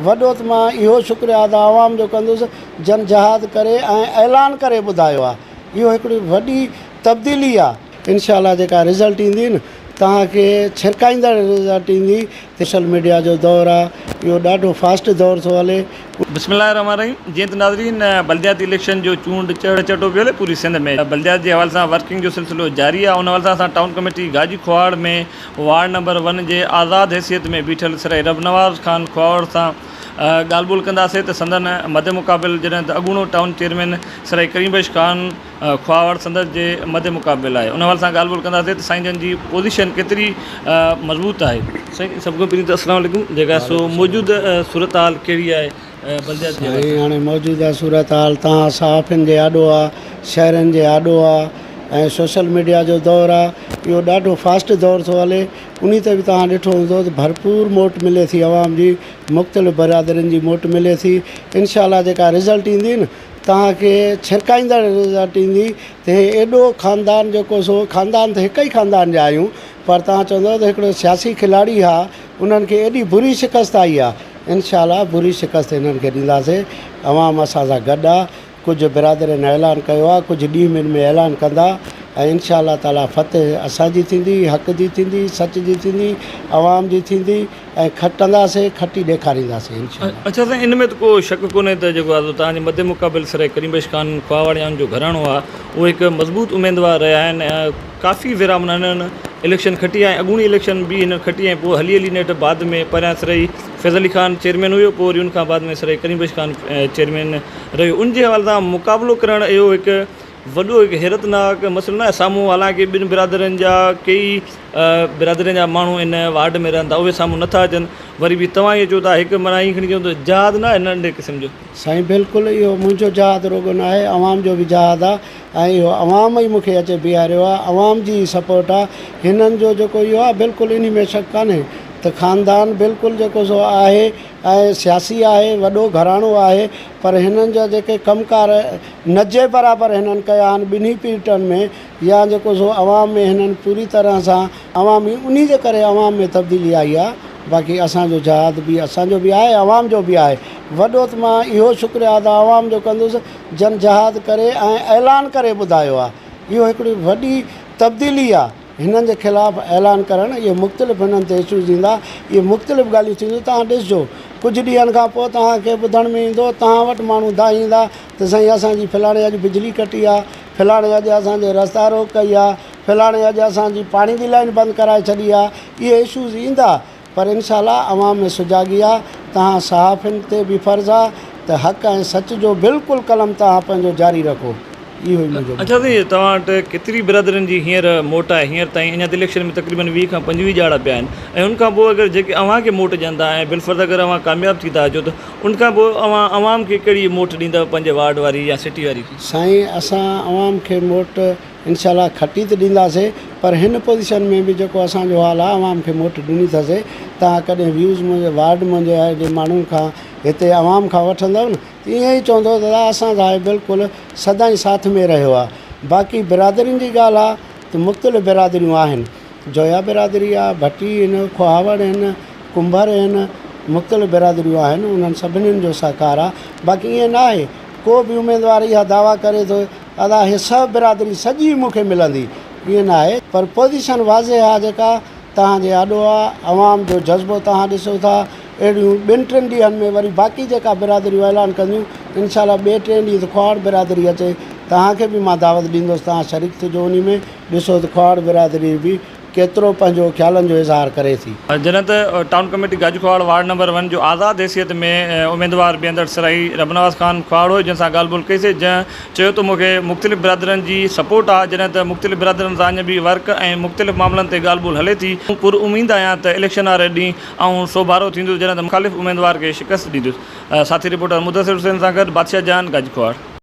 وڏو ته مان اهو شڪريا ادا عوام جو ڪندس جن جهاد ڪري ۽ اعلان ڪري ٻڌايو آ اهو هڪڙي وڏي تبديلي آ. انشاء الله جيڪا رزلٽ ايندي نه توهان کي ڇرڪائيندڙ رزلٽ ايندي سوشل ميڊيا جو دور آ اهو ڏاڍو فاسٽ دور ٿو هلي. بسم الله الرحمٰن الرحيم جيئن ته ناظرين بلدياتي اليڪشن جو چونڊ چڙ چٽو پيو هلي پوري سنڌ ۾ بلديات جي حوالي سان ورڪنگ جو سلسلو جاري آ ان حوالي سان اسان town committee Gaji Khuhawar ۾ ward number one جي آزاد حيثيت ۾ بيٺل سرائي رب نواز خان کهاوڙ سان ڳالهه ٻولهه ڪنداسين ته سندن مد مقابل جڏهن ته اڳوڻو ٽائون چيئرمين سرائي ڪريم بخش خان کهاوڙ سندس جي مد مقابل آهي ان حوالي سان ڳالهه ٻولهه ڪنداسين ته سائين جن جي پوزيشن ڪيتري مضبوط آهي سائين سڀ کان پهرين ته السلام عليڪم جيڪا سو موجوده صورتحال ڪهڙي آهي سائين هاڻي موجوده صورتحال توهان صحافين جي آڏو آ، شهرين جي آڏو آ ۽ سوشل ميڊيا جو دور آ، اهو ڏاڍو فاسٽ دور ٿو هلي، انهي تي به توهان ڏٺو هوندو ته ڀرپور موٽ ملي ٿي عوام جي، مختلف برادرين جي موٽ ملي ٿي، انشاء الله جيڪا رزلٽ ايندي نه توهان کي ڇرڪائيندڙ رزلٽ ايندي ته هي ايڏو خاندان جيڪو سو خاندان ته هڪ ئي خاندان جا آهيون، پر توهان چوندؤ ته هڪڙو سياسي کلاڙي ها انهن کي ايڏي بري شڪست آئي آ انشاء الله بري شڪست انهن کي ڏينداسين عوام اسان سان گڏ آ ڪجهه برادرين اعلان ڪيو آ ڪجهه ڏينهن ٻن ۾ اعلان ڪندا ۽ انشاء الله تعالي فتح اسان جي ٿيندي حق جي ٿيندي سچ جي ٿيندي عوام جي ٿيندي ۽ کٽنداسين کٽي ڏيکارينداسين انشاء الله. اڇا سائين ان ۾ ته ڪو شڪ ڪونهي ته جيڪو آزو تان جي مد مقابل سرائي ڪريم بخش خان خواهه واڻيان جو گهراڻو آ اهي هڪ مضبوط اميدوار رهيا آهن ۽ ڪافي ڀيرا معنيٰ هنن اليڪشن کٽي ۽ اڳوڻي اليڪشن به هنن کٽي ۽ پوء هلي هلي نيٺ بعد ۾ پهريان سرهي فيض علي خان چيئرمين هيو پوء وري ان کان بعد ۾ سرهي ڪريم بخش خان چيئرمين رهيو ان جي حوالي سان مقابلو ڪرڻ اهو هڪ وڏو هڪ حيرت ناڪ مسئلو ناهي سامهون حالانڪه ٻن برادرين جا ڪيئي برادرين جا ماڻهو ان وارڊ ۾ رهن ٿا اهي سامهون نه ٿا اچن وري به توهان ائين چئو ٿا هڪ معنيٰ ائين کڻي چئون ته جهاد ناهي ننڍي قسم جو. سائين بلڪل اهو منهنجو جهاد رڳو ناهي عوام جو به جهاد آهي ۽ اهو عوام ئي مون کي اچي بيهاريو آهي، عوام جي ئي سپورٽ آهي، هنن جو جيڪو اهو آهي بلڪل انهي ۾ شڪ ڪانهي ته خاندان بلڪل جيڪو سو آهي ۽ سياسي آهي، وڏو گهراڻو آهي پر هنن جا جيڪي ڪم ڪار نه جي برابر هنن ڪيا آهن ٻنهي پيرٽن ۾ يا جيڪو سو عوام ۾ هنن پوري طرح سان عوام ئي انهي جي ڪري عوام ۾ تبديلي آئي آهي باقي اسان جو جهاد به اسان جو به آهي عوام جو به آهي وڏو ته مان اهو شڪريا ادا عوام جو ڪندس جن جهاد ڪري ۽ اعلان ڪري ٻڌايو آهي اهو هڪڙي وڏي تبديلي آهي هنن جي خلاف اعلان ڪرڻ اهي مختلف هنن تي اشوز ايندا اهي مختلف ڳالهيون ٿينديون توهان ڏسجو ڪجهه ڏينهن کان پوء توهان کي ٻڌڻ ۾ ايندو توهان وٽ ماڻهو دانهيندا ته سائين اسان جي فلاڻي اڄ بجلي ڪٽي آهي فلاڻي اڄ اسان جي رستا روڪ ڪئي آهي فلاڻي اڄ اسان جي پاڻي جي لائين بند ڪرائي ڇڏي آهي اهي اشوز ايندا پر انشاء الله عوام ۾ سجاڳي آ، توهان صحافين تي به فرض آ ته حق ۽ سچ جو بلڪل قلم توهان پنهنجو جاري رکو. اهو ئي منهنجو. اچھا سائين توهان وٽ ڪيتري برادرين جي هينئر موٽ آهي هينئر تائين اڃا ته اليڪشن ۾ تقريبن ويهه کان پنجويهه ڄاڙا پيا آهن ۽ ان کان پوء اگر جيڪي اوهان کي موٽ ڏين ٿا ۽ بالفرض اگر اوهان ڪامياب ٿي ٿا اچو ته ان کان پوء اوهان عوام کي ڪهڙي موٽ ڏيندؤ پنهنجي وارڊ واري يا سٽي واري کي. سائين اسان عوام کي موٽ. انشاء الله کٽي ته ڏينداسي پر هن پوزيشن ۾ به جيڪو اسان جو حال آهي عوام کي موٽ ڏني ٿا سي توهان ڪڏهن ويوز منهنجي وارڊ منهنجي آهي جي ماڻهن کان هتي عوام کان وٺندؤ نه ته ائين ئي چوندؤ ته ادا اسان سان بلڪل سدائين ساٿ ۾ رهيو آهي باقي برادرين جي ڳالهه آهي ته مختلف برادريون آهن جويا برادري آهي ڀٽي آهن کوهاوڙ آهن ڪنڀر آهن مختلف برادريون آهن انهن سڀني جو سهڪار آهي باقي ائين نه آهي ڪو به اميدوار اها دعويٰ ڪري ٿو ادا هي سڀ برادري سڄي مون کي ملندي ائين نه آهي پر پوزيشن واضح آ جيڪا توهان جي آڏو آ عوام جو جذبو توهان ڏسو ٿا اهڙيون ٻن ٽن ڏينهن ۾ وري باقي جيڪا برادريون اعلان ڪنديون انشاء الله ٻئي ٽئين ڏينهن ته کهاڙ برادري اچي توهان کي به مان دعوت ڏيندس توهان شريڪ ٿجو انهي ۾ ڏسو ته کهاڙ برادري به ڪيترو پنهنجو خيالن جو اظهار ڪري ٿي. جڏهن ته town committee Gaju Khuhawar ward number one جو آزاد حيثيت ۾ اميدوار بيهندڙ سرائي رب نواز خان کهواڙوء جن سان ڳالهه ٻولهه ڪئي سي جنهن چيو ته مون کي مختلف برادرين جي سپورٽ آ جڏهن ته مختلف برادرين سان اڃ به ورڪ ۽ مختلف معاملن تي ڳالهه ٻولهه هلي ٿي مون پر اميد آهيان ته اليڪشن واري ڏينهن آئون سوڀارو ٿيندس جڏهن ته مخالف اميدوار کي شڪست ڏيندس ساٿي رپورٽر مدثر حسين سان گڏ بادشاهه جان گاجو کهواڙ.